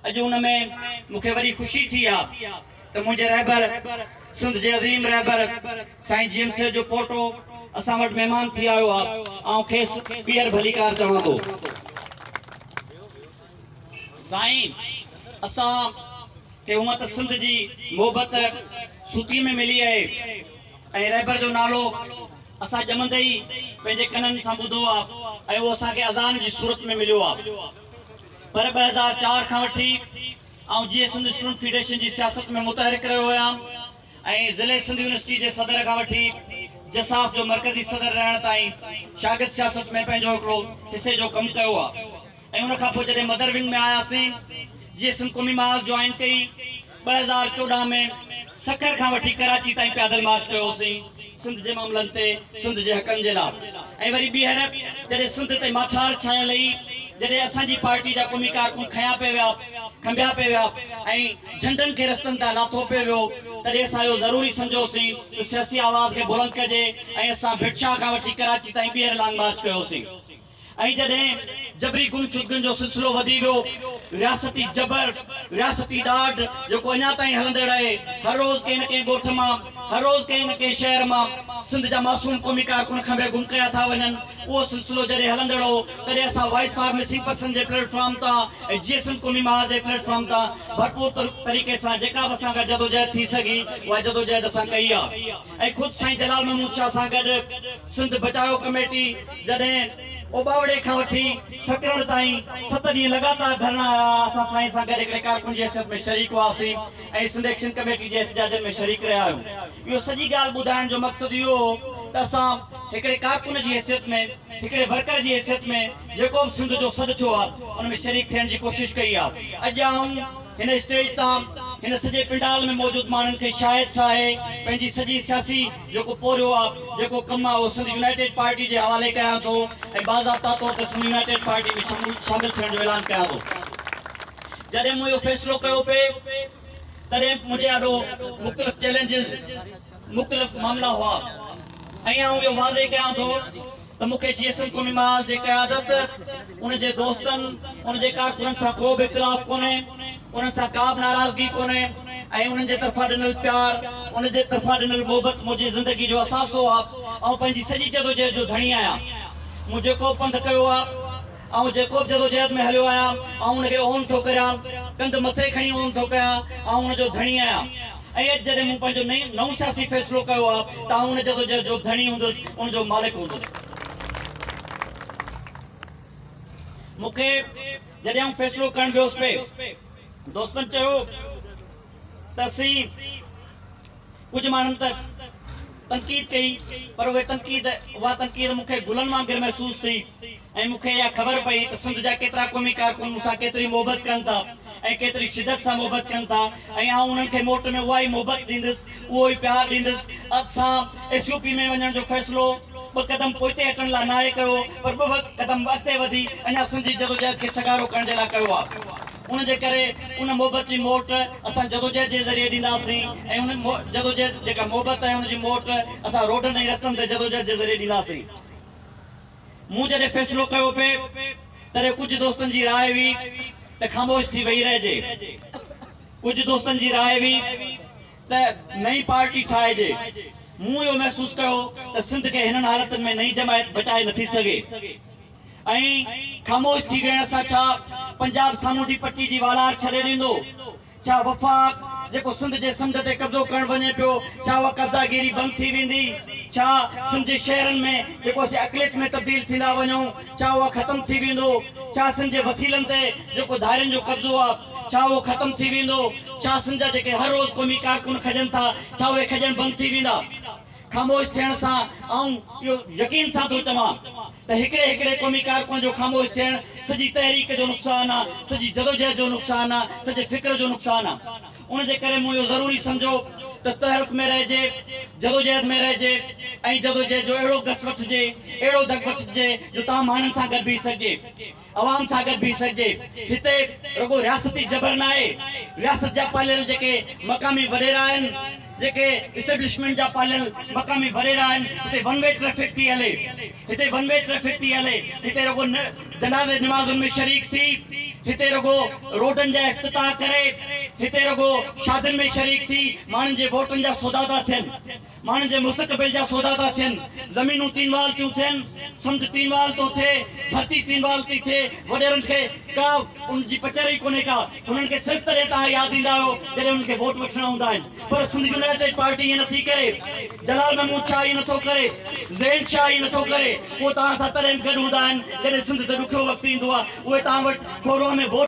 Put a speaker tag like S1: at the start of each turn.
S1: اڄ ان ۾ مون کي وري خوشي ٿي آ ته منهنجي رهبر سنڌ جي عظيم رهبر سائين جي ايم سيد جو پوٽو اسان وٽ مهمان ٿي آيو آ آئون کيس پيئر ڀليڪار چوان ٿو سائين اسان کي هونء ته سنڌ جي محبت سوتيء ۾ ملي آهي ۽ رهبر جو نالو اسان ڄمندي ئي پنهنجي ڪنن سان ٻڌو آ ۽ اهو اسان کي اذان جي صورت ۾ مليو آ پر ٻه هزار چار کان وٺي آئون جيئي سنڌ اسٽوڊنٽ فيڊريشن جي سياست ۾ متحرڪ رهيو هيام ۽ ضلعي سنڌ يونيورسٽي جي صدر کان وٺي جساف جو مرڪزي صدر رهڻ تائين شاگرد سياست ۾ پنهنجو هڪڙو حصي جو ڪم ڪيو آ ۽ ان کان پوء جڏهن مدر ونگ ۾ آياسين، جيئي سنڌ قومي محاذ جوائن ڪئي، ٻه هزار چوڏهن ۾ سکر کان وٺي ڪراچي تائين پيادل مارچ ڪيو هوسين، سنڌ جي معاملن تي، سنڌ جي حقن جي لا. ۽ وري ٻيهر جڏهن سنڌ تي ماٺار ڇانيل هئي، جڏهن اسان جي پارٽي جا قومي ڪارڪن کنيا پئي ويا، کنڀيا پئي ويا ۽ جهنڊن کي رستن تان لاٿو پئي ويو، تڏهن اسان اهو ضروري سمجهيوسين ته سياسي آواز کي بلند ڪجي ۽ اسان ڀٽ شاهه کان وٺي ڪراچي تائين ٻيهر لانگ مارچ ڪيوسين. ۽ جڏهن جبري گمشدگين جو سلسلو وڌي ويو، رياستي جبر، رياستي ڏاڍ جيڪو اڃا تائين هلندڙ آهي، هر روز ڪنهن نه ڪنهن ڳوٺ مان، هر روز ڪنهن نه ڪنهن شهر مان سنڌ جا معصوم قومي ڪارڪن کنڀي گم ڪيا ٿا وڃن، اهو سلسلو جڏهن هلندڙ هو، تڏهن اسان وائس فار مسنگ پرسن جي پليٽ فارم تان ۽ جيئي سنڌ قومي محاذ جي پليٽ فارم تان ڀرپور طريقي سان جيڪا به اسان کان جدوجهد ٿي سگهي، اها جدوجهد اسان ڪئي آهي. ۽ خود سائين جلال محمود شاهه سان گڏ سنڌ بچايو ڪميٽي جڏهن اوٻاوڙي کان وٺي سڪرڻ تائين ست ڏينهن لڳاتار ڌرڻا هيا اسان سائين سان گڏ هڪڙي ڪارڪن جي حيثيت ۾ شريڪ هئاسين ۽ سنڌ ايڪشن ڪميٽي جي احتجاجن ۾ شريڪ رهيا آهيون اهو سڄي ڳالهه ٻڌائڻ جو مقصد اهو هو ته اسان هڪڙي ڪارڪن جي حيثيت ۾ هڪڙي ورڪر جي حيثيت ۾ جيڪو به سنڌ جو سڏ ٿيو آهي ان ۾ شريڪ ٿيڻ جي ڪوشش ڪئي آهي اڄ آئون هن اسٽيج تان هن سڄي پنڊال ۾ موجود ماڻهن کي شايد ڇا آهي پنهنجي سڄي سياسي جيڪو پورهيو آ جيڪو ڪم آ اهو سنڌ يونائيٽيڊ پارٽي جي حوالي ڪيان ٿو ۽ باضابطا طور تي سنڌ يونائيٽيڊ پارٽي ۾ شامل ٿيڻ جو اعلان ڪيان ٿو جڏهن مون اهو فيصلو ڪيو پي تڏهن منهنجي آڏو مختلف چيلنجز مختلف معاملا هئا ۽ آئون اهو واضح ڪيان ٿو ته مون کي جي ايس ايل قومي محاذ جي قيادت، ان جي دوستن، ان جي ڪارڪنن سان ڪو به اختلاف ڪونهي، انهن سان ڪا به ناراضگي ڪونهي ۽ انهن جي طرفان ڏنل پيار، ان جي طرفان ڏنل محبت منهنجي زندگي جو اثاثو آ، آئون پنهنجي سڄي جدوجهد جو ڌڻي آهيان، مون جيڪو به پنڌ ڪيو آ. آئون جيڪوب جدوجهد ۾ هليو آهيان، آئون ان کي اونهه ٿو ڪريان، ڪنڌ مٿي کڻي اونهه ٿو ڪيان، آئون ان جو ڌڻي آهيان. ۽ اڄ جڏهن مون پنهنجو نئون سياسي فيصلو ڪيو آهي ته آئون ان جدوجهد جو ڌڻي هوندس، ان جو مالڪ هوندس. مون کي جڏهن آئون فيصلو ڪرڻ ويس پئي، دوستن چيو ته سين! ڪجهه ماڻهن ته تنقيد ڪئي پر اهي تنقيد اها تنقيد مون کي گلن وانگر محسوس ٿي ۽ مون کي اها خبر پئي ته سنڌ جا ڪيترا قومي ڪارڪن مون سان ڪيتري محبت ڪن ٿا ۽ ڪيتري شدت سان محبت ڪن ٿا ۽ آئون انهن کي موٽ ۾ اها ئي محبت ڏيندس اهو ئي پيار ڏيندس اڌ سان ايس يو پي ۾ وڃڻ جو فيصلو ٻه قدم پوئتي هٽڻ لاء ناهي ڪيو پر ٻه قدم اڳتي وڌي اڃا سنڌ جي جدوجهد کي سگهارو ڪرڻ جي لاء ڪيو آهي. ان جي ڪري ان محبت جي موٽ اسان جدوجهد جي ذريعي ڏينداسين ۽ ان جدوجهد جيڪا محبت آهي ان جي موٽ اسان روڊن ۽ رستن تي جدوجهد جي ذريعي ڏينداسين. مون جڏهن فيصلو ڪيو پي تڏهن ڪجهه دوستن جي راء هئي ته خاموش ٿي ويهي رهجي. ڪجهه دوستن جي راء هئي ته نئين پارٽي ٺاهجي. مون اهو محسوس ڪيو ته سنڌ کي هنن حالتن ۾ نئين جماعت بچائي نٿي سگهي. ائين خاموش ٿي ويهڻ سان ڇا پنجاب سامونڊي پٽي جي والار ڇڏي ڏيندو؟ ڇا وفاق جيڪو سنڌ جي سمنڊ تي قبضو ڪرڻ وڃي پيو، ڇا اها قبضا گيري بند ٿي ويندي؟ ڇا سنڌ جي شهرن ۾ جيڪو اسين اقليت ۾ تبديل ٿيندا وڃون، ڇا اهو ختم ٿي ويندو؟ ڇا سنڌ جي وسيلن تي جيڪو ڌارين جو قبضو آ، ڇا اهو ختم ٿي ويندو؟ ڇا سنڌ جا جيڪي هر روز قومي ڪارڪن کڄن ٿا، ڇا اهي کڄڻ بند ٿي ويندا؟ خاموش ٿيڻ سان آئون اهو يقين سان ٿو چوان ته هڪڙي هڪڙي قومي ڪارڪن جو خاموش ٿيڻ سڄي تحريڪ جو نقصان آ، سڄي جدوجهد جو نقصان آ، سڄي فڪر جو نقصان آ. ان جي ڪري مون اهو ضروري سمجهيو ته تحرڪ ۾ رهجي، جدوجهد ۾ رهجي ۽ جدوجهد جو اهڙو گس وٺجي، اهڙو دڳ وٺجي جو تان ماڻهن سان گڏ بيهي سگهجي. عوام سان گڏ بيهي سگهجي. هتي رڳو رياستي جبر ناهي، رياست جا پاليل جيڪي مقامي وڏيرا آهن، جيڪي اسٽيبلشمينٽ جا پاليل مقامي وڏيرا آهن، هتي ون وي ٽريفڪ ٿي هلي، هتي ون وي ٽريفڪ ٿي هلي، هتي رڳو جنازي نمازن ۾ شريڪ ٿي، هتي رڳو روڊن جا افتتاح ڪري، هتي رڳو شادين ۾ شريڪ ٿي ماڻهن جي ووٽن جا سودا ٿا ٿين. ماڻهن جي مستقبل جا سودا ٿا ٿين، زمينون تين وال ٿيون ٿين، سمنڊ تين وال ٿو ٿئي، ڌرتي تين وال ٿي ٿئي، وڏيرن کي ڪا ان جي پچر ئي ڪونهي ڪا، انهن کي صرف تڏهن تهان ياد ايندا آهيو جڏهن انهن کي ووٽ وٺڻا هوندا آهن، پر سنڌ يونائيٽيڊ پارٽي ائين نٿي ڪري، جلال محمود شاهه ائين نٿو ڪري، زين شاهه ائين نٿو ڪري، اهو تهان سان تڏهن به گڏ هوندا آهن جڏهن سنڌ تي ڏکيو وقت ايندو آهي، اهي تهان وٽ ڪوروها ۾ ووٽ.